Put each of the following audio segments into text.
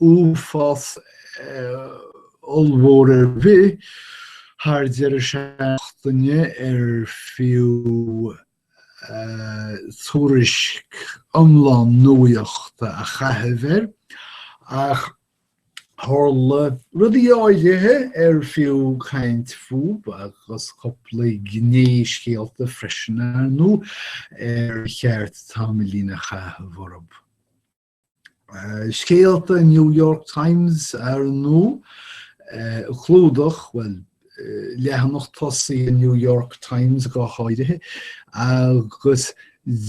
uafás ollmhór ar bith thar deireadh seachtaine ar fiú tuairisc iomlán nuachta a chaitheamh air, ach tharla rudaí áirithe ar fiú caint fúb agus cúpla gné scéalta freisin, ar ndóigh, ar cheart tamaillín a chaitheamh orthub. Scéalta New York Times ar ndóigh, chlúdach, bhuel, leathanach tosaigh New York Times go háirithe, agus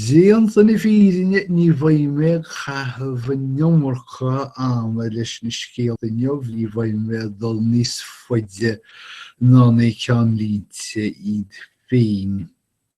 déanta na fírinne ní bheidh mé ag caitheamh an iomarca ama leis na scéalta inniu, ní bheidh mé ag dul níos faide ná na ceannlínte iad féin.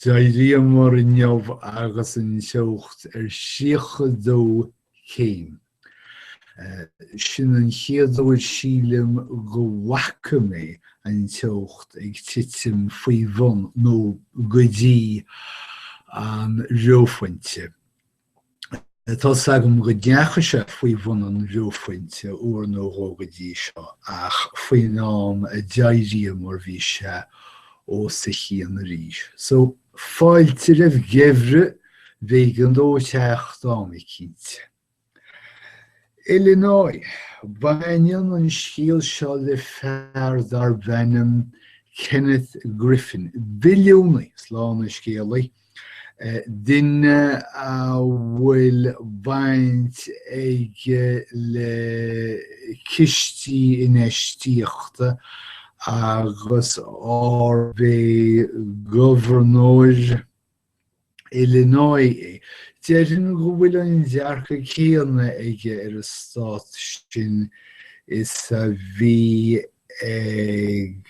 D'éiríomar inniu agus an teocht ar thríocha dó céim. Sin an chéad uair sílim go bhfaca mé an teocht ag titim faoi bhun, nó go dtí, an reophointe. Tá 's agam go ndeachaigh sé faoi bhun an reophointe uair nó dhó go dtí seo, ach faoin am a d'éiríomar bhí sé os a chionn arís. So, fáilte roimh an ngeimhreadh, b'éigean dó teacht am éicint. Illinois, baineann an scéal seo le fear darb ainm Kenneth Griffin, billiúnaí, slán an scéalaí, duine a bhfuil baint aige le cistí infheistíochta agus arb é Gobharnóir Illinois é. Déarfainn go bhfuil an dearcadh céanna aige ar an stát sin is a bhí ag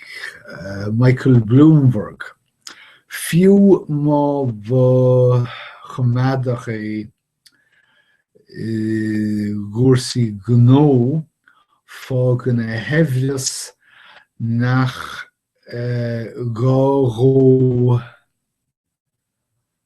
Michael Bloomberg. Fiú má ba choimeádach é i gcúrsaí gnó, fágann a shaibhreas nach gá dhó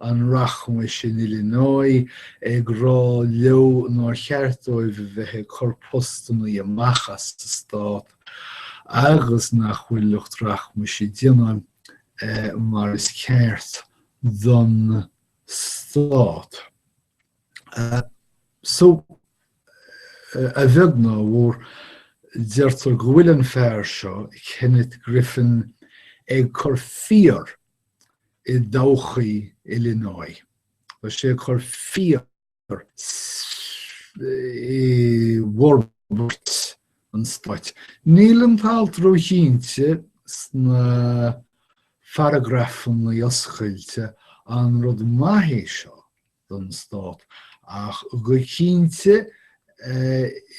an rachmais in Illinois, ag rá leo nár cheart dóibh a bheith ag cur postannaí amach as an Stát agus nach bhfuil lucht rachmais ag déanamh mar is ceart don Stát. So, a bheag nó a mhór, deirtear go bhfuil an fear seo, Kenneth Griffin, ag cur fíor i dtodhchaí Illinois. Tá sé ag cur fíor i bhforbairt an stáit. Níl an t-alt róchinnte sna paragrafanna oscailte, an rud maith é seo? don Stát, ach go cinnte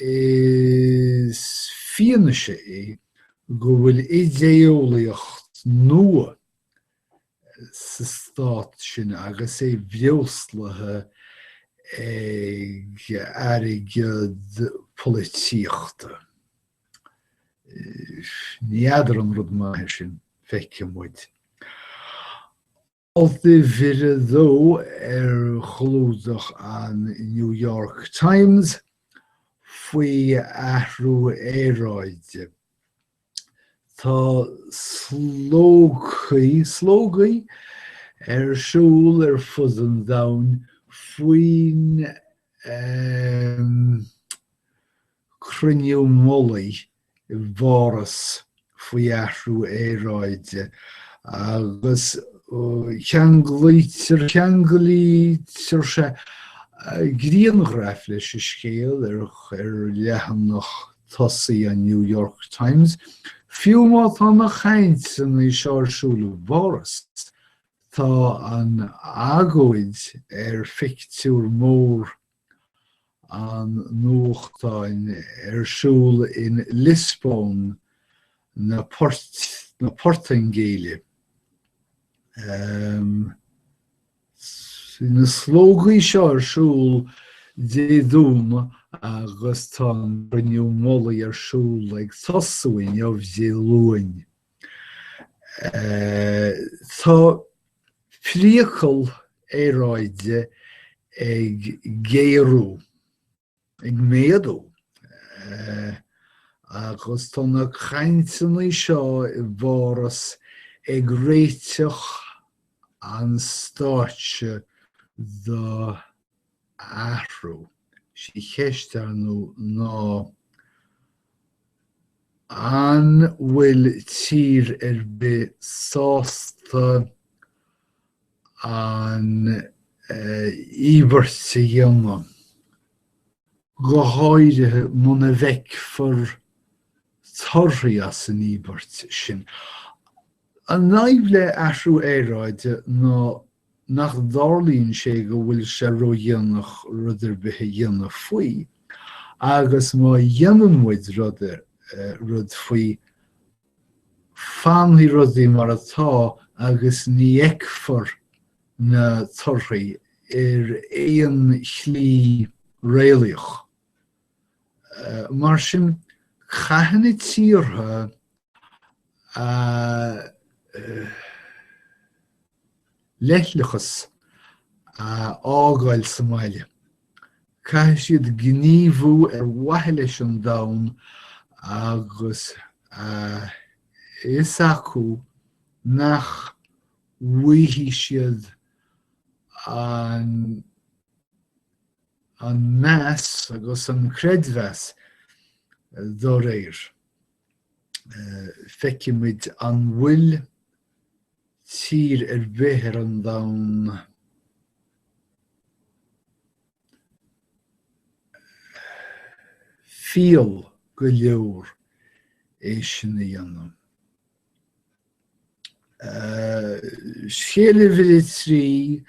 is fianaise é go bhfuil idé-eolaíocht nua sa Stát sin agus é breoslaithe ag airgead polaitíochta. Ní fheadar an rud maith é sin, feicfidh muid. Alt uimhir a dó ar chlúdach an New York Times faoi athrú aeráide. Tá slógaí, slógaí ar siúl ar fud an domhain faoin ahm, cruinniú mullaigh i bPáras faoi athrú aeráide agus ceanglaítear, ceanglaítear sé, grianghraif leis an scéal ar leathanach tosaigh an New York Times, fiú má tá na cainteanna seo ar siúl i bPáras, tá an agóid ar phictiúr mór an nuachtáin ar siúl in Liospóin na Portaingéile. Bhí na slógaí seo ar siúl Dé Domhnaigh agus tá an Cruinniú Mullaigh ar siúl ag tosú inniu, Dé Luain. Tá priacal aeráide ag géarú, ag méadú, agus tá na cainteanna seo i bPáras ag réiteach an stáitse do athrú. Is í an cheist, ar ndóigh, ná An bhfuil tír ar bith sásta an íobairt a dhéanamh, go háirithe muna bhfeicfear torthaí as an íobairt sin? An fhadhb le athrú aeráide ná nach dtarlaíonn sé go bhfuil sé ródhéanach rud ar bith a dhéanamh faoi, agus má dhéanann muid rud ar rud faoi, fanfaidh rudaí mar atá agus ní fheicfear na torthaí ar aon shlí réalaíoch. Mar sin, caithfidh na tíortha a. leithleachas a fhágáil sa mbaile. Caithfidh siad gníomhú ar mhaithe leis an domhan agus a fhios acu nach bhfaighidh siad an an meas agus an creidmheas dá réir. Feicimid an bhfuil tír ar bith ar an domhan fial go leor é sin a dhéanamh. Scéal uimhir 3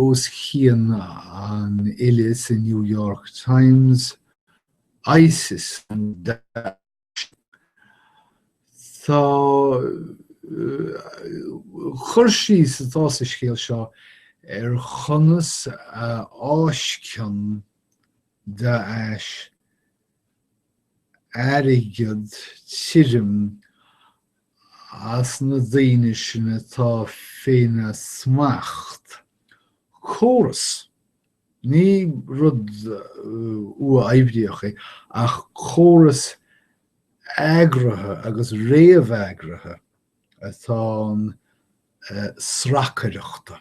os cionn an fhillte sa New York Times, ISIS an Tá cur síos atá sa scéal seo ar chonas a fháisceann Daesh airgead tirim as na daoine sin atá féna smacht. Córas. Ní rud uathoibríoch é ach córas eagraithe agus réamheagraithe atá ann sracaireachta.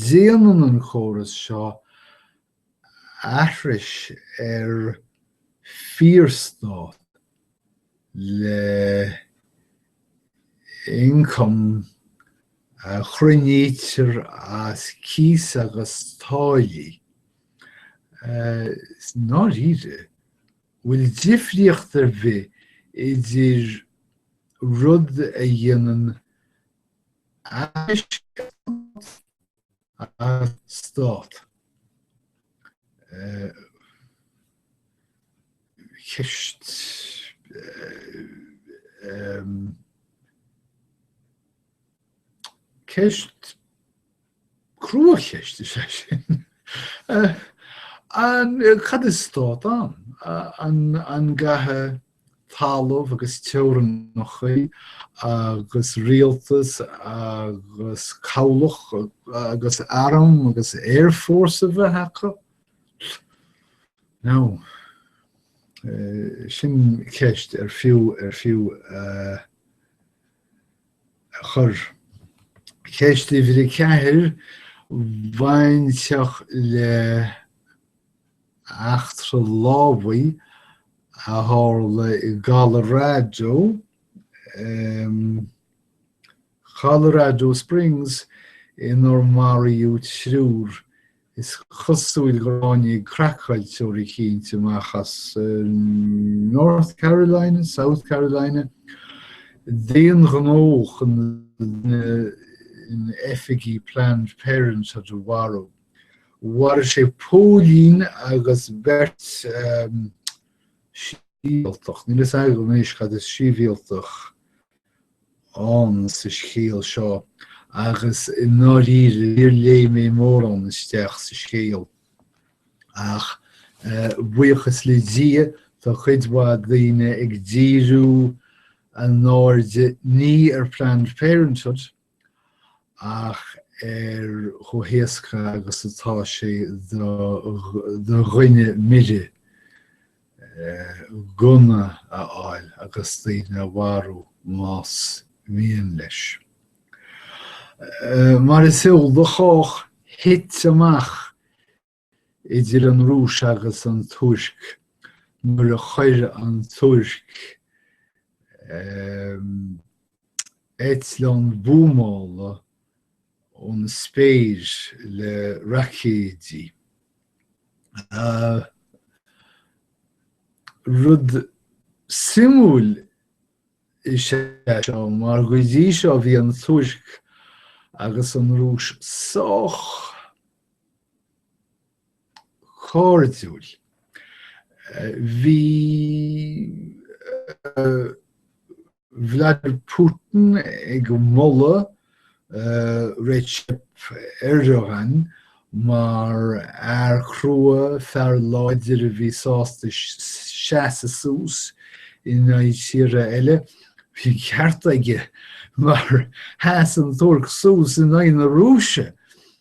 Déanann an córas seo aithris ar fíorstát le ioncam a chruinnítear as cíos agus táillí. I ndáiríre, bhfuil difríocht ar bith idir rud a dhéanann aithris ar stát is stát ceist ceist cruacheist is ea sin an cad is stát ann? an gcaithfidh talamh agus teorainneacha agus rialtas agus cabhlach agus arm agus air force a bheith acu. No, sin ceist ar fiú ar fiú a chur. Ceist a bhí ceir bhainteach le eachtra lámhaigh a tharla i gColorado, em. Colorado Springs, inar maraíodh triúr. Is cosúil gur tháinig craiceáilteoir eicínt amach as North Carolina, South Carolina, d'aon ghnó chun duine in oifigí Planned Parenthood a mharú. Mharaigh sé póilín agus beirt shibhialtach. Níl a fhios agam anois cad is sibhialtach ann sa scéal seo agus i ndáiríre níor léigh mé mórán isteach sa scéal ach buíochas le Dia tá cuid mhaith daoine ag díriú a n-airde ní ar Planned Parenthood ach ar chomh héasca agus atá sé do dhuine mire gunna a fháil agus daoine a mharú más mian leis. Mar is eol do chách, thit amach idir an Rúis agus an Tuirc nuair a chuir an Tuirc eitleán buamála ón spéir le raicéidí. Rud suimiúil is ea seo mar go dtí seo bhí an Tuirc agus an Rúis sách cairdiúil. Bhí Vladimir Putin ag moladh Recep Erdogan mar fhear crua, fear láidir a bhí sásta seasamh suas in aghaidh tíre eile. Bhí an ceart aige mar sheas an Tuirc suas in aghaidh na Rúise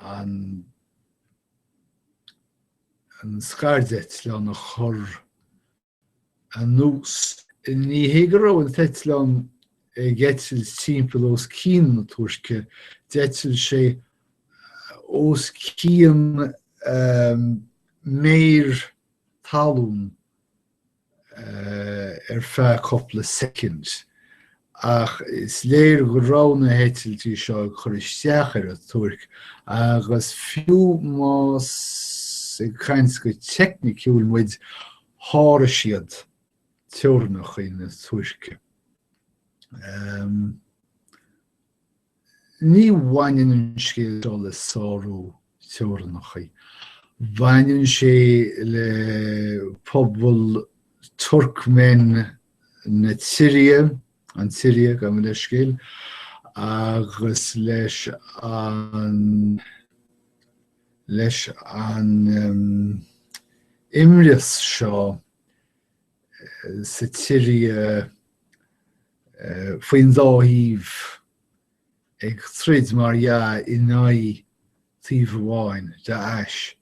an scairdeitleán a chur anuas. Ní hé go raibh an t-eitleán ag eitilt timpeall os cionn na Tuirce, d'eitil sé os cionn méar talún ar feadh cupla soicind, ach is léir go raibh na heitiltí seo ag cur isteach ar an Tuirc, agus fiú más ag caint go teicniciúil muid, sháraigh siad teorainneacha na Tuirce. Ní bhaineann an scéal seo le sárú teorannacha. Baineann sé le pobal Turkmen na tSiria, an tSiria, gabh mo leithscéal, agus leis an leis an imreas seo. sa tSiria faoin dá thaobh ag troid, mar dhea, in aghaidh taoibh amháin, Daesh.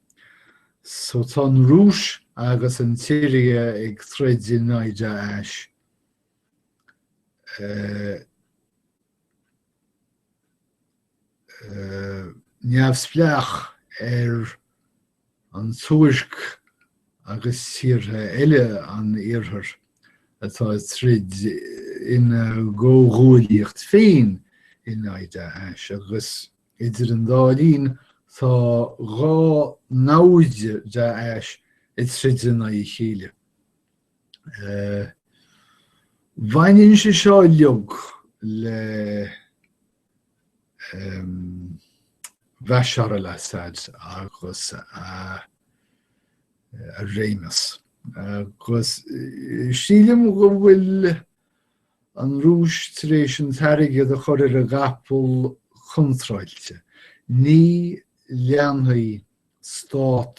So tá an Rúis agus an tSiria ag troid in aghaidh Daesh. Neamhspleach ar an Tuirc agus tíortha eile an Iarthair atá ag troid ina gcomhghuaillíocht féin in aghaidh Daesh, agus idir an dá linn tá dhá namhaid Daesh ag troid in aghaidh a chéile. Baineann sé seo uilig le. Bashar al-Assad agus a réimeas. Agus sílim go bhfuil an Rúis tar éis an t-airgead a chur ar an gcapall contráilte. Ní leanfaidh stát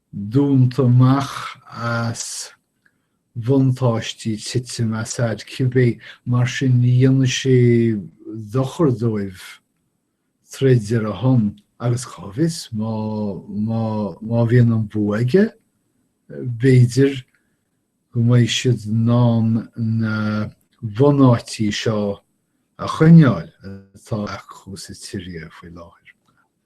dúnta amach as bhuntáistí titim Assad cibé, mar sin ní dhéanfaidh sé dochar dóibh troid ar a shon agus cá bhfios, má, má, má bhíonn an bua aige, b'fhéidir go mbeidh siad in ann na bunáití seo a choinneáil atá acu sa tSiria faoi láthair.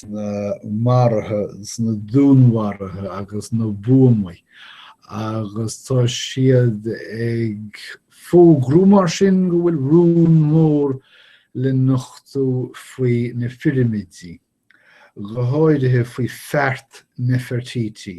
sna maruithe, sna dúnmharuithe agus na buamaí agus tá siad ag fógrú mar sin go bhfuil rún mór le nochtú faoi na pirimidí, go háirithe faoi Feart Nefertiti,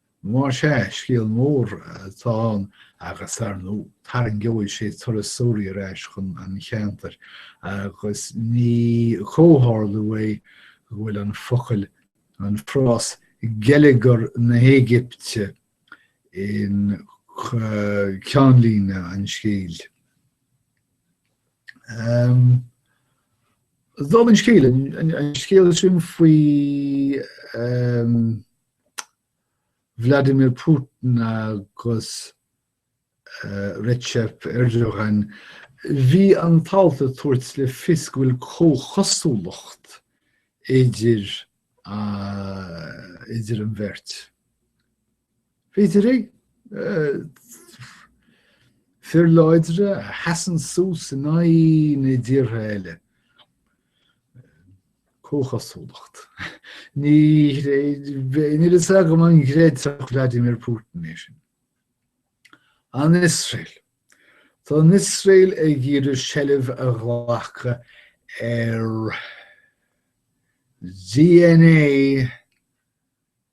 Más ea, scéal mór atá ann agus, ar ndóigh, tarraingeoidh sé turasóirí ar ais chun an cheantair agus ní comhtharlú é go bhfuil an focal, an frás 'geilleagar na hÉigipte' in ceannlíne an scéil. Dála an scéil, an scéal sin faoi. Vladimir Putin agus Recep Erdogan, bhí an t-alt ag tabhairt le fios go bhfuil comhchosúlacht idir an bheirt. B'fhéidir fir láidre a sheasann suas in aghaidh na dtíortha eile. Comhchosúlacht. Níl fhios agam an gcreidfeadh Vladimir Putin é sin. An Iosrael. Tá an Iosrael ag iarraidh seilbh a ghlacadh ar DNA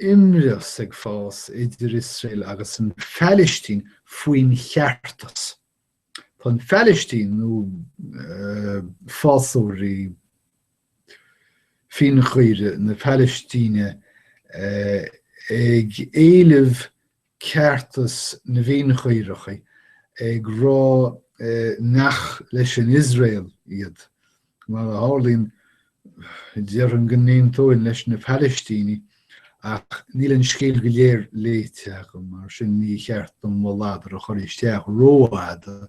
imreas ag fás idir Iosrael agus an Phailistín faoin cheartas. Tá an Phailistín, nó fásóirí fíonchaoire na Pailistíne, ag éileamh ceartas na bhfíonchaorach, ag rá nach leis an Iosrael iad, mar a tharlaíonn, déarfainn go n-aontóinn leis na Palaistínigh, ach níl an scéal go léir léite agam, mar sin ní cheart dom mo ladar a chur isteach rófhada.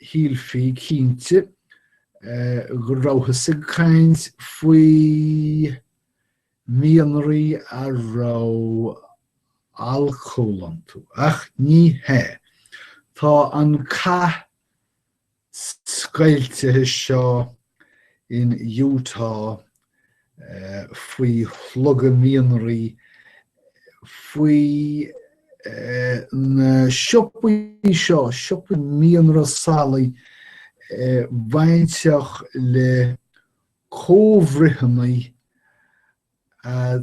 Shílfí, cinnte, go rabhthas ag caint faoi mhianraí a raibh alcól iontu, ach ní hea. Tá an cath scoilte seo in Utah faoi shlogadh mianraí, faoi na siopaí seo, siopaí mianraí salacha, bainteach le comhbhruitheanna a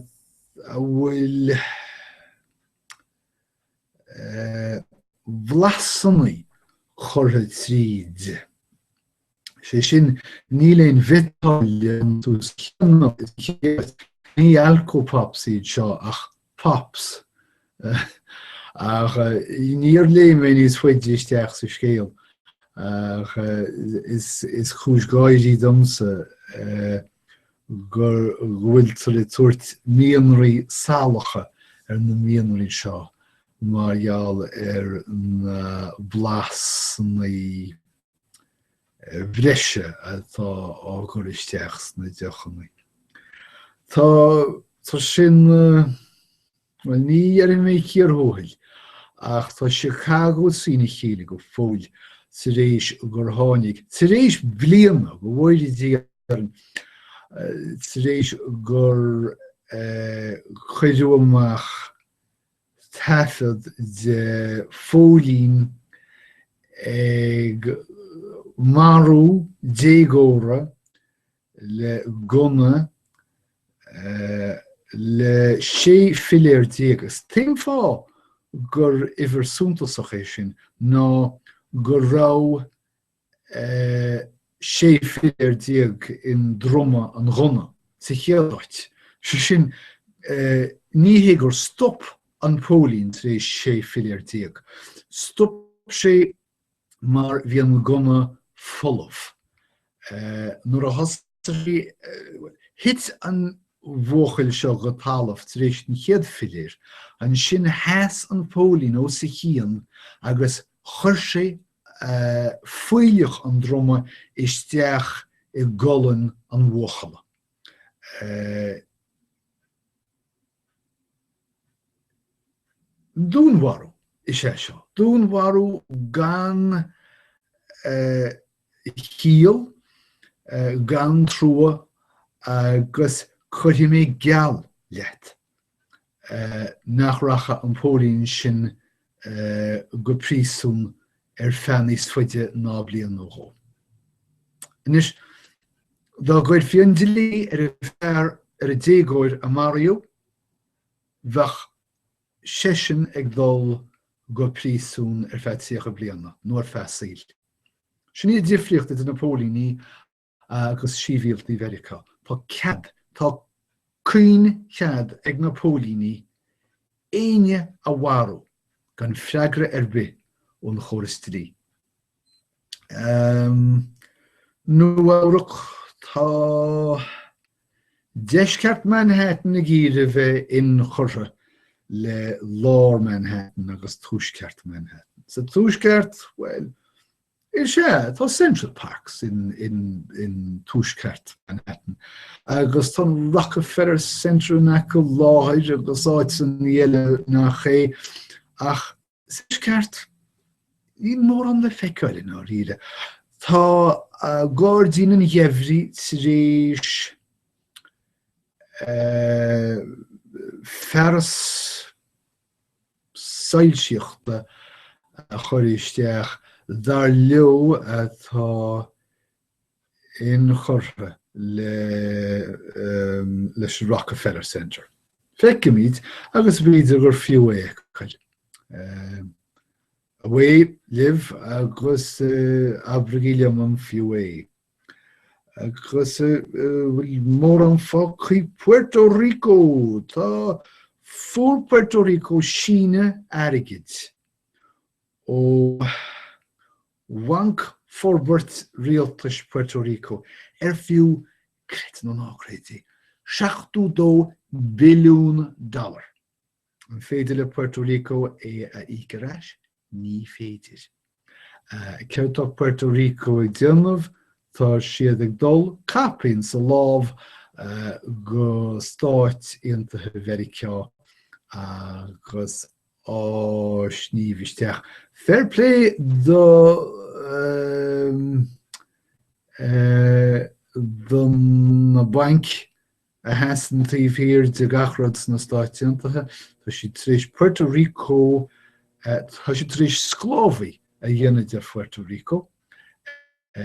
bhfuil blasanna curtha tríd. sé sin, níl aon bhiotáille iontu, ní alcopops iad seo ach pops. Ach níor léigh mé níos faide isteach sa scéal ach is cúis gáirí domsa go bhfuiltear ag tabhairt mianraí salacha ar na mianraí seo mar gheall ar na blasannaí bhreise atá á gcur isteach sna deochannaí. Tá sin, bhuel, ní dhéarfaidh mé cíor thuathail, ach tá Chicago trína chéile go fóill tar éis gur tháinig, tar éis bliana, go bhfóire Dia orainn, tar éis gur cuireadh amach, taifead de phóilín ag marú déagóra le gunna le 16 philéar agus an t-aon fáth gur uimhir suntasach é sin ná go raibh 16 philéar i ndruma an ghunna sa chéad áit, sé sin, ní hé gur stop an póilín tar éis 16 philéar, stop sé mar bhí an gunna folamh. Nuair a thosaigh. Thit an bhuachaill seo go talamh tar éis an chéad philéir. Ansin sheas an póilín os a chionn agus chuir sé fuílleach an druma isteach i gcolainn an bhuachalla. Dúnmharú is ea seo, dúnmharú gan chiall, gan trua agus cuirfidh mé geall leat nach rachaidh an póilín sin go príosún ar feadh níos faide ná bliain nó dhó. Anois, dá gcuirfí an dlí ar an fear ar an déagóir a maraíodh, bheadh seisean ag dul go príosún ar feadh tríocha bliana, nó ar feadh saoil. Sin í an difríocht idir na póilíní agus sibhialtaigh Mheiriceá. Tá cead, tá caoinchead ag na póilíní éinne a mharú gan freagra ar bith ón chóras dlí. Um Nua-Eabhrac, tá deisceart Manhattan ag iarraidh a bheith inchurtha le lár Manhattan agus tuaisceart Manhattan. Sa tuaisceart, bhuel, Is ea, tá Central Park i dTuaisceart Manhattan agus tá an Rockefeller Center i gceartlár agus áiteanna eile, nach é ach sa Tuaisceart níl mórán le feiceáil i ndáiríre. Tá Gairdín an Gheimhridh tar éis fearas soilsíochta a chur isteach dar leo atá inchurtha le, leis an Rockefeller Center. Feicimid, agus b'fhéidir gur fiú é a fheiceáil. Away libh agus abraigí liom an fiú é. Agus an bhfuil mórán faoi Puerto Rico, tá, fuair Puerto Rico síneadh airgid ó Bhanc Forbairt Rialtas Puerto Rico ar fiú, creid é nó ná creid é, 72 billiún dollar. An féidir le Puerto Rico é a íoc ar ais? Ní féidir. Céard tá Puerto Rico ag déanamh? Tá siad ag dul caipín sa láimh go Stáit Aontaithe Mheiriceá agus á sníomh isteach. Fair play do, do na bainc a sheasann taobh thiar de gach rud sna Stáit Aontaithe, tá siad tar éis Puerto Rico a, tá siad tar éis sclábhaí a dhéanamh de Phuerto Rico,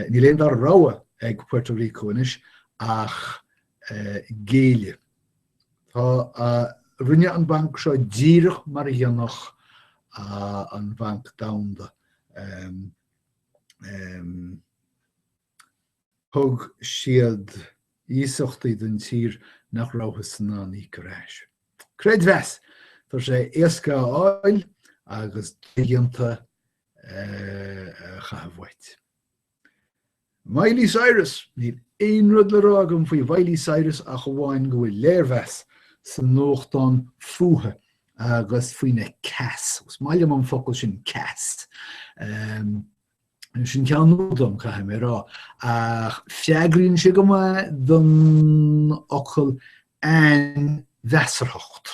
níl an dara rogha ag Puerto Rico anois ach géilleadh. Tá, rinne an banc seo díreach mar a dhéanfadh an Banc Domhanda. Thug siad iasachtaí don tír nach rabhthas in ann íoc ar ais. Creidmheas! Tá sé éasca a fháil agus dodhéanta a chaitheamh uait. Miley Cyrus! Níl aon rud le rá agam faoi Mhiley Cyrus ach amháin go bhfuil léirmheas sa nuachtán fúithi agus faoina 'cas'. Agus is maith liom an focal sin 'cas'. sin ceann nua dom caithfidh mé a rá, ach freagraíonn sé go maith don fhocal 'ainmheasarthacht'.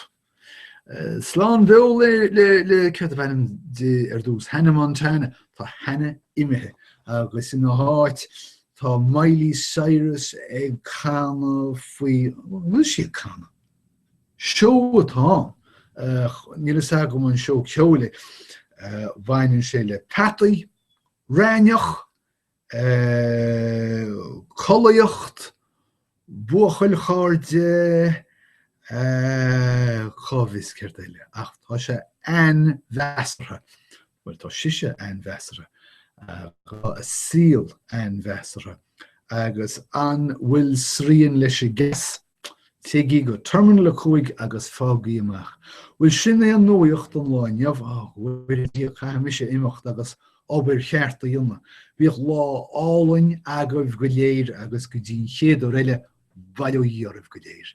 Slán beo le, céard ab ainm di ar dtús, Hannah Montana, tá Hannah imithe agus ina háit tá Miley Cyrus ag canadh faoi, bhfuil sí ag canadh? Seó atá ann. Níl fhios agam an seó ceoil é. Bhaineann sé le peataí, raithneach, collaíocht, buachaill chairde, cá bhfios céard eile ach tá sé ainmheasartha. Bhuel tá sise ainmheasartha, tá a saol ainmheasartha agus an bhfuil srian leis an gceas? Téigí go Terminal 5 agus faighigí amach. Bhuel, sin é an nuaíocht don lá inniu, a Mhuire Dia, caithfidh mise imeacht agus obair cheart a dhéanamh. Bíodh lá álainn agaibh go léir agus go dtí an chéad uair eile, bail ó Dhia oraibh go léir.